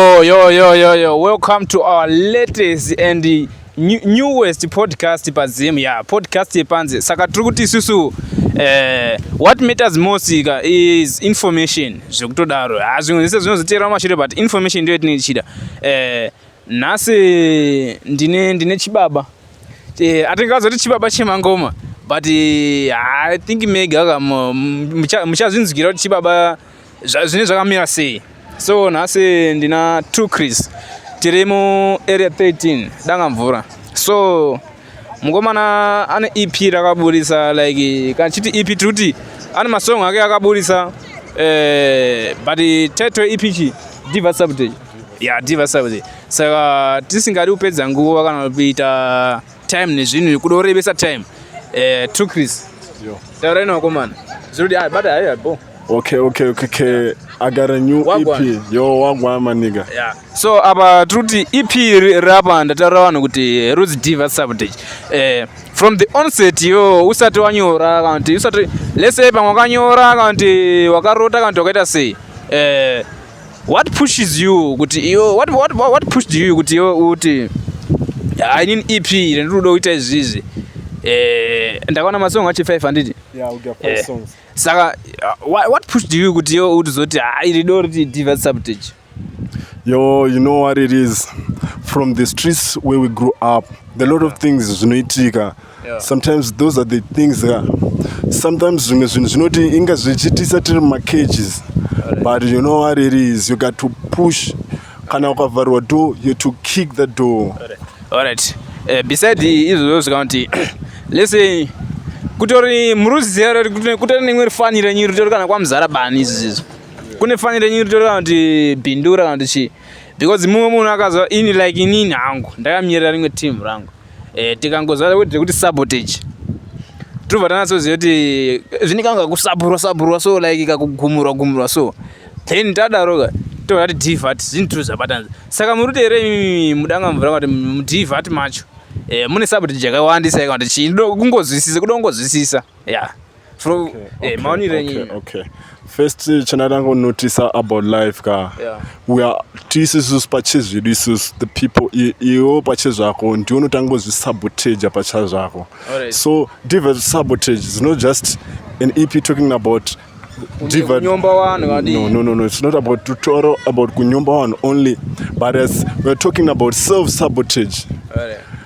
Oh, yo, yo, yo, yo. Welcome to our latest and new, newest podcast pazim yeah, podcast yepanze saka tiri kuti isusu eh, what matters most ka is information zvekutodaro ha ah, zvimwe zvese zvinozoteerawo mashure but information ndiyo yatinenge tichida eh, nhasi ndine, ndine chibaba eh, atingazoti chibaba chemangoma but eh, i think mega ka muchazvinzwira kuti chibaba zvine zvakamira sei so nhasi ndina two cris tiri mu area 13 danga mvura so mukomana ane ep rakaburitsa like kana chiti ep tiri kuti ane masong ake akaburitsa eh, but title ep chi diva subject ya diva subject saka tisingadi kupedza nguva kana kuita time nezvinhu nekuda kurebesa time eh, true chris tauraini wakomana zvirudi ah, bata haiya bo okay okay okay okay i got a new Wagwan. ep yo wagwa maniga yeah. so apa tiri kuti ep iri rapa ndataura vanhu kuti eh, rudzi diva subtage eh, from the onset yo usati wanyora kana kuti usati lese pamwe wakanyora kana kuti wakarota kana kuti wakaita sei eh, what pushes you kuti iwe what, what, what, what pushed you kuti iwe uti i need ep iri ndiri kuda kuita izvi izvi eh, ndakaona masong achi 5 handiti yeah, we'll get eh, songs. saka uh, what, what pushed you kuti iwe uti zoti ha ah, iri do riti divert subtage yo you know what it is from the streets where we grew up the lot yeah. of things zvinoitika sometimes those are the things uh, sometimes zvimwe zvinhu zvinoti inga zvichitisa tiri mumacages but you know what it is you got to push kana ukavharwa door you to kick the door alright uh, eh, beside izvozvo zvikanoti let's say kutori muruzizero kutori neimwe rifaniro yenyu ritori kana kwamuzara bani izvi zizvo kune faniro yenyu ritori kana kuti bindura kana kuti chii because mumwe munhu akazva ini like inini hangu ndakamierera rimwe team rangu eh, tikangoziva kuti tiri kuti sabotage tinobva tanatsoziva kuti zvinenge anga kusaburwa saburwa so like kakugumurwa gumurwa so then tadaroka tobva tati divat zvinhu tiri zvabatanzi saka muri kuti here imimi mudanga mvura kuti mudivat macho eh, mune sabotage yakawandisa yakawanda chii kungonzwisisa kuda kungonzwisisa ya yeah. from okay, eh, okay, eh, maonire okay, nyinyi okay first eh, chinatanga unotisa about life ka yeah. we are tiisusu pachezvedu isusu the people iwo pachezvako ndiwo unotanga kuzvisabotage pachazvako right. so divers sabotage is not just an ep talking about divert no no no no it's not about tutorial about kunyomba one only but as we're talking about self sabotage right.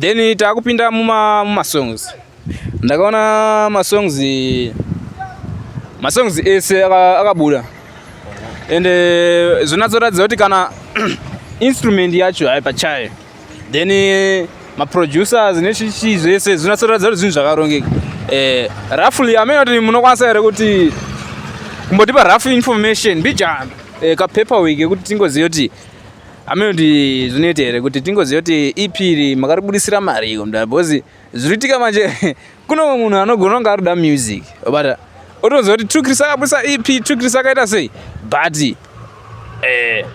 then takupinda muma muma songs ndakaona ma songs ma songs ese akabuda and eh, zvonatsoratidza kuti kana instrument yacho hai pachayo then eh, ma producers nechichi zvese zvonatsoratidza kuti zvinhu zvakarongeka eh roughly amene kuti munokwanisa here kuti kumbotipa rough information bijana eh, ka paperwork yekuti tingoziva kuti hameno kuti zvinoita here kuti tingoziva kuti ipiri makaribudisira mari iko mdara because zviriitika manje kune umwe munhu anogona kunge arikuda music but otoziva kuti trukris akabudisa ep trukris akaita sei but eh,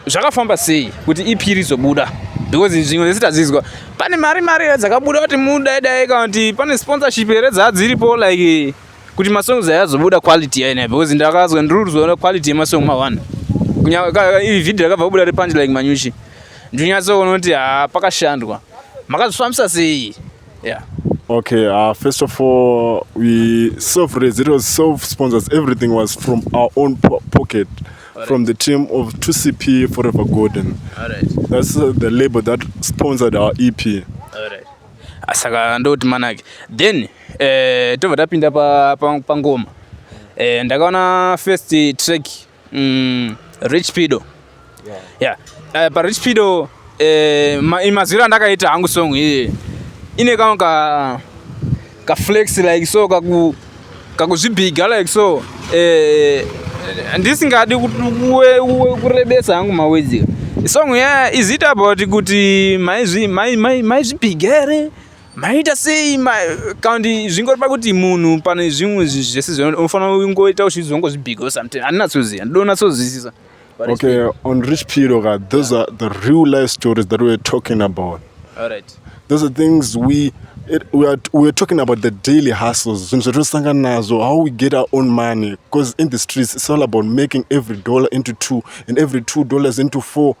zvakafamba sei kuti ep rizobuda because zvimwe zvese tazizwa pane mari mari here dzakabuda kuti mudaidai kana kuti pane sponsorship here dzadziripo like kuti masongs ayazobuda quality yaina because ndakazwa ndiri kuzoona quality yemasong mawana iri vhidhio rakabva kubuda repanji like manyuchi ndinyatsoona kuti ha pakashandwa makazvifambisa sei yeah Okay, uh, first of all, we self raised. It was self sponsors. Everything was from our own po pocket, right. from the team of 2CP Forever Golden. All right. That's uh, the label that sponsored our EP. All right. Asaka ndoti manake. Then eh tobva tapinda pa pangoma eh ndakaona first track mm, rich pido yeah, yeah. Uh, pa rich pido eh ma, mazwiro andakaita hangu song iyi ine kama ka ka flex like so kaku kakuzvibhiga like so eh ndisingadi kurebesa hangu mawedzika song ya izita about kuti maizvibhiga here maita sei kandi zvingori pakuti munhu pane zvimwe zvese zvinofanira kungoita uchizongozvibhigo sometimes handinatsoziva ndodo natsozwisisa okay on rich piro ka those yeah. are the real life stories that weare talking about All right. those are things we It, we, are, we are talking about the daily hustles zvinhu zvatinotosangana nazvo how we get our own money because in the streets it's all about making every dollar into two and every two dollars into four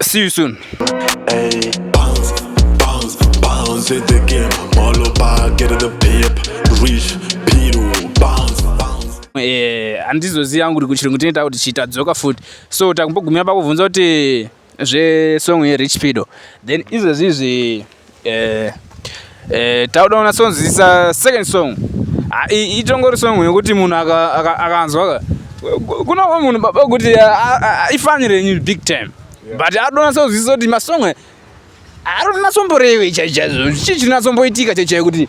See you soon. Hey, bounce, bounce, bounce in the game. All about getting the pip, rich, piru, bounce, bounce. Eh, handizoziva yangu kuti kuchirungu tine takuti chitadzoka futi so takumbogumira pakubvunza kuti zvesong yerich pido then izvezvi izvi eh eh tauda una songs is a second song ah, itongori song yekuti munhu akanzwa kuna umwe munhu baba kuti ifani renyu big time but adonasa kuzwisisa kuti masong aronasomborewe chaichaizvo chii chinasomboitika chaichai kuti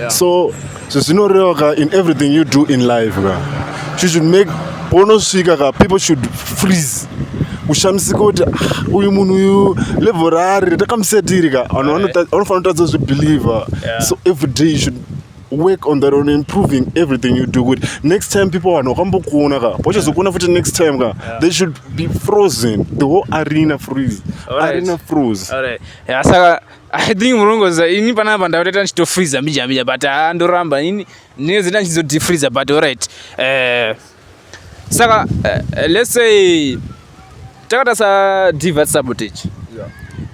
yeah. so zvezvinoreva ka in everything you do in life ka you should make paunosvika ka people should freeze kushamisika kuti ah, uyu munhu uyu level raari rakamusetiri ka vanhu vanofanira kutadza kuzvibhilivha so every day you should work on that on improving everything you do kuti next time people vanhu vakambokuona ka vachazokuona futi next time ka they should be frozen the whole arena freeze arena froze saka I think murongoza ini panapa apa ndakatoita ndichito freezer mbija mbija but ah ndoramba ini ndinozoita ndichizo deep freezer but all right eh saka uh, let's say takata sa divert sabotage yeah.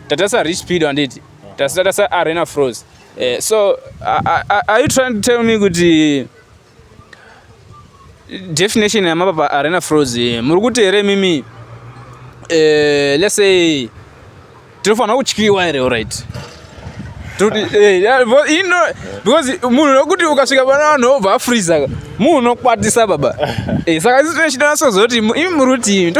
tata sa reach speed and it tata sa arena froze eh so are, are, are you trying to tell me kuti uh, definition yamapapa arena froz muri kuti here mimi eh, let's say tinofanira kutyiwa here orit because munhu nokuti ukasvika pana vanhu obva afreeza munhu unokwatisa baba eh, saka isi tinechitanasozokuti imi muri kuti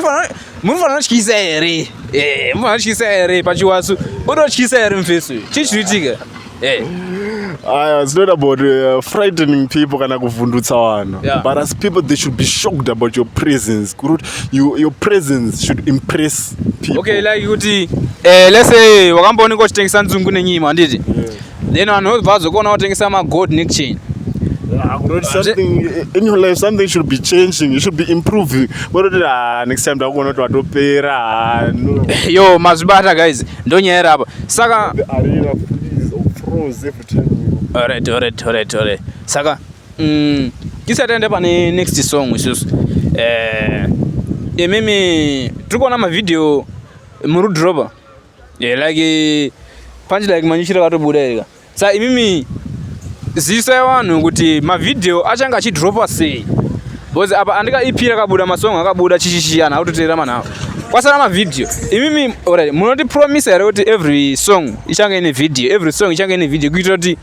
munofanira kutyisa here eh, munofanira kutyisa here pachiwasu ototyisa here mufesu chii chinoitika Hey. Eh. Aya, ah, it's not about uh, frightening people kana kuvhundutsa vanhu yeah. but as people they should be shocked about your presence kurut you, your presence should impress people okay like kuti eh, let's say wakambooneka uchitengesa nzungu nenyima handiti yeah. then vanhu vobva vazokuona watengesa magold nechain Ah, something in your life something should be changing you should be improving vanoti ah, next time ndakuona kuti watopera ah, yo mazvibata guys ndonyaya iri apa saka alright alright alright alright saka mm, tisati ende pane next song isusu eh, imimi tiri kuona mavhidhiyo murudhiroba eh, like panji like manyuchira katobuda iri ka Sa imimi ziso yavanhu kuti mavideo achanga achidropa sei because apa andika ep rakabuda masong akabuda chichichi anhu akutoteera manhu avo kwasara mavideo imimi orit munotipromisa here kuti every song ichange ine video every song ichange ine video kuitira kuti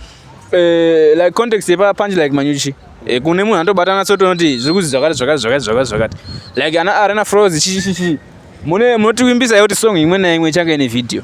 eh, like context yepapanji like manyuchi eh, kune munhu anotobatana so tonoti zviri kuzi zvakati zvakati zvakati zvakati zvakati like ana arena froz chichichichi mune munotivimbisa here kuti song imwe naimwe ichange ine video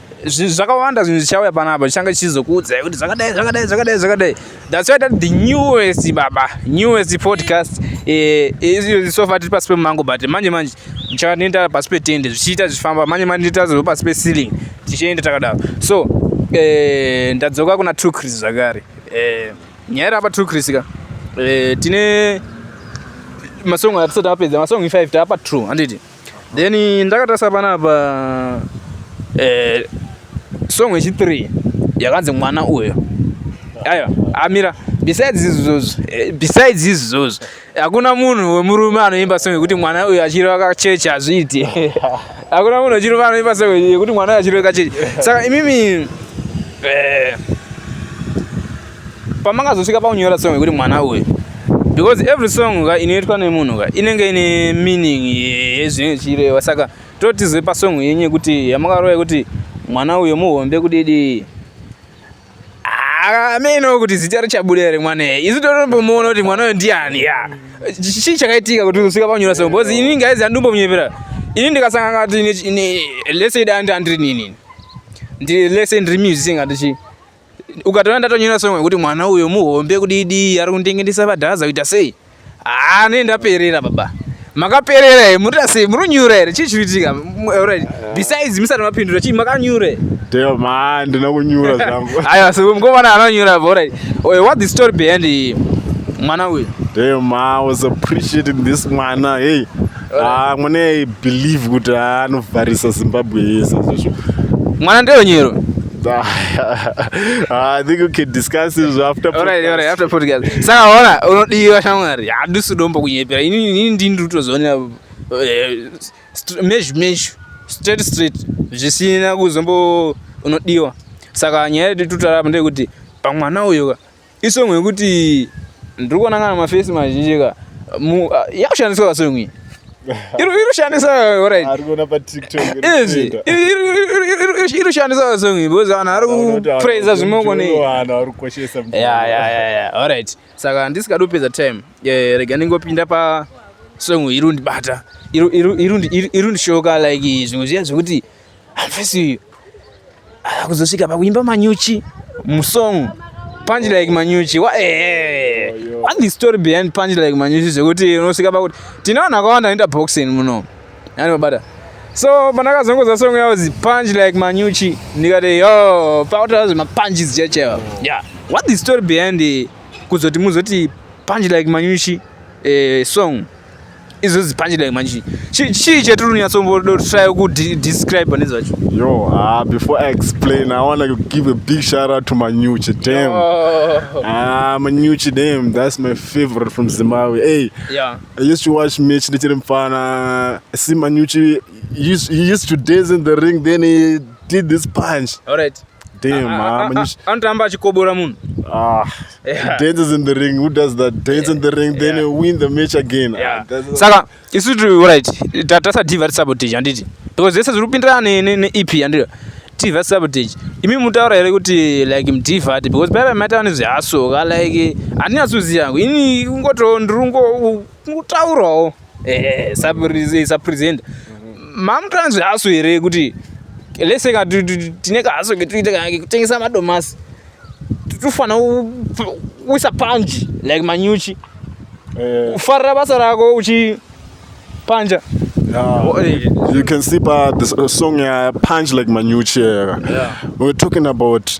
zvinhu zvakawanda zvinhu zvichauya panapa zvichanga chichizokuudzai kuti zvakadai zvakadai zvakadai zvakadai that's why that the newest baba newest podcast eh, eh, sofa tiri pasi pemumango but manje manje muchava nenda pasi petende zvichiita zvichifamba manje manje nditazova pasi peceiling tichienda takadaro so eh, ndadzoka kuna true chris zvakare nyaya iri apa true chris ka tine masong atisati apedza masong 5 taapa true handiti then ndakatarisa panapa eh, song yechi3 yakanzi mwana uyo aiwa amira besides izvozvo eh, besides izvozvo hakuna munhu wemurume anoimba song yekuti mwana uyo achireva kachechi hazviiti hakuna munhu wechirume anoimba song yekuti mwana uyo achireva kachechi saka imimi eh, pamakazosvika pakunyora song yekuti mwana uyu because every song ka inoitwa nemunhu ka inenge ine meaning yezvinenge zvichireva saka totizwe pasong yenyu yekuti yamakarova yekuti mwana uyo muhombe kudidi ameno ah, kuti zita richabuda ri mwana isu totombomuona kuti mwana uyo ndiani ya chii chakaitika kuti uzosvika panyora song because ini ngaizi andimbomunyepera ini ndikasangana kuti lese dandi andiri nini ndiri lese ndiri musing andichii ukatoona ndatonyora song yekuti mwana uyo muhombe kudidi ari kundingendisa padhaza kuita sei haa ne ndaperera baba makaperera here munoita sei munonyura here chii chiriitika right besides musati mapindura chii makanyura here dema ndina kunyura zvangu aiwa so mukomana anonyura right oh, what the story behind mwana uyu dema was appreciating this mwana hey Ah, mwana i believe kuti ah, anovharisa zimbabwe yese zvizvo mwana ndewenyero Ah, i think we can discuss this after Alright, alright, after podcast. Saka ona unodiwa shamwari hadusi dombo kunyepera ini ini ndini ndiri kutozoonera eh, str- mezhu mezhu straight straight zvisina kuzombo unodiwa saka nyaya yedu tutaura apa ndeyekuti pamwana uyo ka Isong yekuti ndiri kuona kana mafesi mazhinji ka yakushandiswa kasong iyi irushandisa irushandisa vasong iyi because vanhu ari kupraiza zvimoko nearit saka handisikadi kupedza time eh, rega ndingopinda pasong irundibata irundishoka like zvimwe zviya zvekuti Alfesi uyu akuzosvika pakuimba manyuchi musong punch like manyuchi wa eh what the story behind punch like manyuchi zvekuti unosvika pakuti tine vanhu akawanda anoita boxing muno yani mabata so pandakazongoza song yavo zi punch like manyuchi ndikati yo pautaura zvemapunches checheva yeah what the story behind kuzoti muzoti punch like manyuchi eh, song izvo zipanje dai manji chii chetirunyatsombodo try kudescribe pane zvacho yo ah, before i explain i want to give a big shout out to manyuchi dam oh. ah, manyuchi dam that's my favorite from zimbabwe hey yeah. i used to watch mitch ndichiri mfana see manyuchi he used to dance in the ring then he did this punch all right Damn, ah, man. Anotamba achikobora munhu. Ah, yeah. dances in the ring. Who does that? Dance in the ring, yeah. then you win the match again. Yeah. Ah, Saka, isu tiri right. Tatasa TV vari sabotage handiti. Because zese zviri kupindirana ne ne ne EP handiti. TV sabotage. Imi mutaura here kuti like mdiva ati because baba maita vane zvihasoka like handinyasoziva yangu. Ini kungoto ndiri kungotaurawo. eh, sapresenta mamutanzwi haso here kuti lese ka tine kahaso ketoita kekutengesa madomasi tofanira kuisa panji like manyuchi eh. ufarira basa rako uchipanja Oh, you can see by the song uh, Punch Like Manucci. Yeah. We're talking about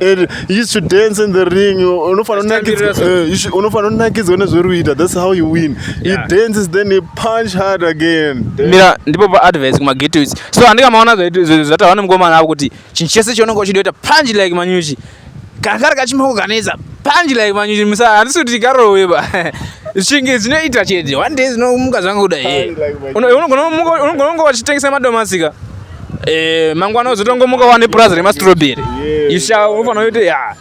and you used to dance in the ring unofanira eh, unakidzwa nezveruita that's how you win he dances then he punch hard again mira ndipo pa advice kuma gateways so andika maona zvata vane mukomana avo kuti chinhu chese chaunenge uchidoita punch like manyuchi kana kari kachimoko kanetsa punch like manyuchi musa handisi kuti karowe ba zvinge zvinoita chete one day zvinomuka zvangu kuda unongononga vachitengesa madomasika Eh, mangwana uzotongomuka wane purazi remastrawberry isha unofanira kuti ya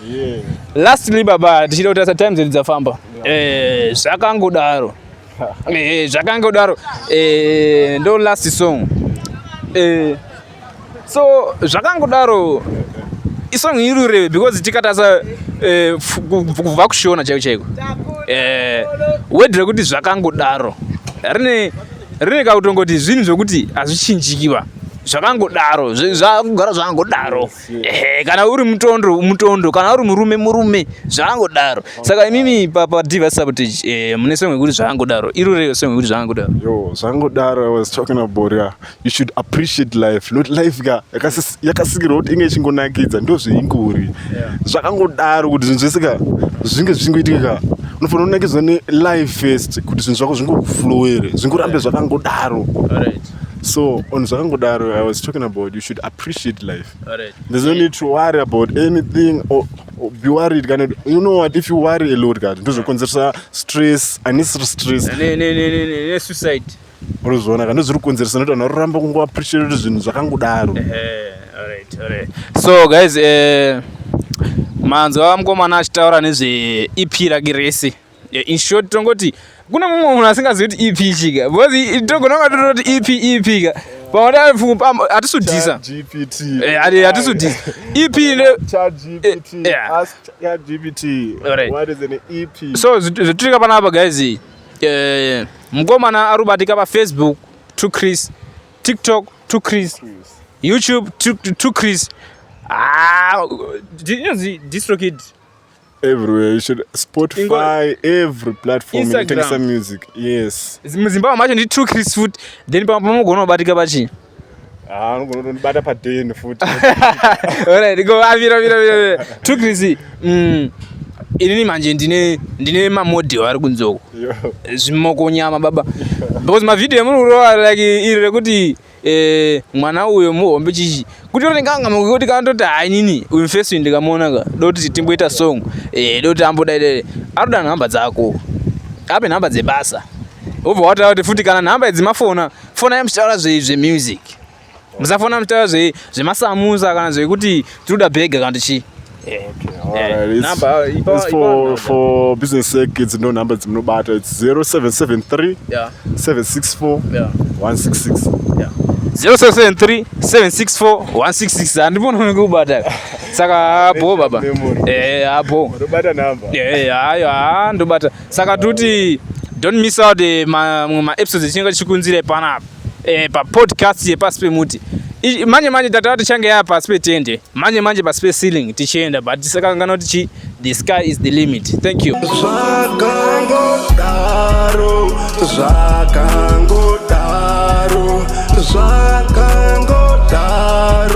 lastly baba tichida kuti asa time dzedu dzafamba eh, zvakangodaro eh, zvakangodaro eh, ndo last song eh, so zvakangodaro isong irureve because tikatasa eh, kubva kushona chaiko chaiko eh, wedre kuti zvakangodaro rine Rega kutongoti zvinhu zvekuti hazvichinjikiba zvakangodaro zvakugara zvakangodaro ehe kana uri mutondo mutondo kana uri murume murume zvakangodaro saka imimi papadivha sabotage eh, mune song yekuti zvakangodaro iro reyo song yekuti zvakangodaro yo zvakangodaro i was talking about yeah. you should appreciate life not life ka yakasikirwa kuti inge ichingonakidza ndo zveingori zvakangodaro kuti zvinhu zvese ka zvinge zvichingoitika ka unofanira kunakidzwa nelive first kuti zvinhu zvako zvingokuflowere zvingorambe zvakangodaro so on zvakangodaro i was talking about you should appreciate life there's no need to worry about anything or, or be worried kana you know what if you worry a lot kati ndozvokonzeresa stress unnecessary stress ne, ne, ne, ne, ne, ne suicide unozviona kana zviri kukonzeresa nekuti vanhu varoramba kungo appreciate zvinhu zvakangodaro so guys eh, manzwa mukomana achitaura nezve ep rake rese in short tongoti kuna mumwe munhu asingazivi kuti ep chika because togona kunga tototi ep ep ka paatiatisudisaatisudisaep so zvatitika panapa guys Eh, mkomana ari kubatika pafacebook to chris tiktok to chris youtube to, to chris ah, inonzi distrokid everywhere you should spotify every platform inotengesa music yes muzimbabwe macho ndi true chris foot then pamogona kubatika pachii Ah, anogona kutondibata paden futi Alright, go ah, mira mira mira. mira. True Chrissy. Mm. Inini manje ndine ndine mamodel ari kunzoko. Yo. zvimoko nyama baba because mavideo muri kurova like iri rekuti eh, mwana uyo muhombe chichi kuti oringanga kuti kandoti hainini uyu face uyu ndikamuona ka doti timboita song eh, doti ambodaidai anoda nhamba dzako ape nhamba dzebasa obva wataura kuti futi kana nhamba idzi mafona Fonai muchitaura zvemusic. Musafona muchitaura zvemasamusa kana zvekuti tinoda bhega kana kuti chii. Eh, for business sake it's no number dzimunobata it's 0773 yeah. 764 yeah. 166 yeah. 0773 764 166 handipona unenge kubata saka abo baba eh abo ndobata number eh ayo ah ndobata saka toti don't miss out eh, mamwe maepisodes echinenge tichikunzira ipanapa eh, papodcast yepasi pemuti manje manje tatava tichange yava pasi petende manje manje pasi peceiling tichienda but tisakangana kuti chi the sky is the limit thank you zvakangodaro zvakangodaro zvakangodaro